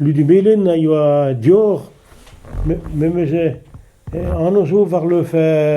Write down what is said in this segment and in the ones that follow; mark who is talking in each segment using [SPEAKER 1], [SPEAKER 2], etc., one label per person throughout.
[SPEAKER 1] Ludi Melen a yoa dior, memes anv zo war leuv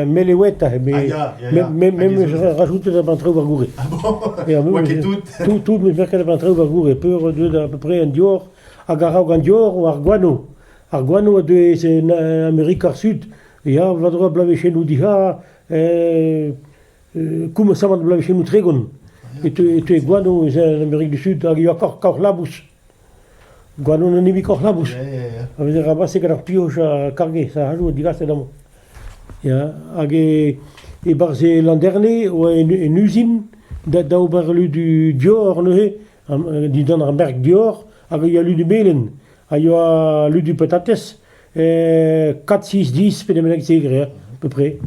[SPEAKER 1] Melewet aze, met memes rajoutet da b'an traoù war goure. Ah bon Oa
[SPEAKER 2] ket tout
[SPEAKER 1] Tout,
[SPEAKER 2] tout, met merket da b'an traoù
[SPEAKER 1] war goure. Peur oa deuet a peu près an dior, hag a-raok an dior oa ar gwano. Ar gwano a deuet en Amerika ar Sud. Ya, va-droa blavezhennoù diha, koummasamant blavezhennoù tregont. E teu e gwano en Amerik du Sud hag e oa kaoc'h labous. Gwanon an hini-koch labous, a veze rabaset gant ar pioch ha karget ar c'hadoù digaset amañ. Ya, hag e-barzh e landerne e oa un uzin da ober lu du dior neuze, dindan ar merk dior, hag a yoa lu du melen, a yoa lu du patatez. Kat, six, dix, pe ne bennak-se dre, à peu près.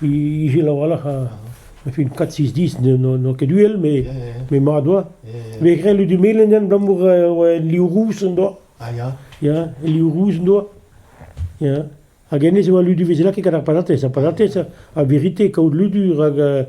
[SPEAKER 1] Ijel a-walc'h a fin kat, six, dix n'oa ket uhel, mais mais mat oa. Mais grel du melen abalamour oa liv rous an doa. Ah ya.
[SPEAKER 2] Ya, liv rous
[SPEAKER 1] an doa. Ya. Hag hennezh e oa ludu vezelaket gant ar patatez. Ar patatez, a vérité, kaout ludu, rak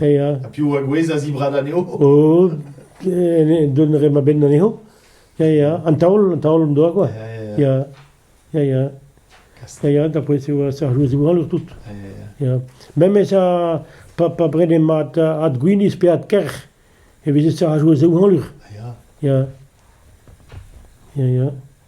[SPEAKER 1] Ya, piv a gouezh
[SPEAKER 2] a-zibrad
[SPEAKER 1] anezho? Oh, dont a ra ma benn anezho. Ya, ya, an taol, an taol en doa quoi. Ya, ya, ya, ya. Ya, ya, d'après c'est ça joue zougal tout. Ya. Même ça pas pas brene mat at gwinis pe at ker. E veze ça a joué zougal. Ya. Ya.
[SPEAKER 2] Ya, ya.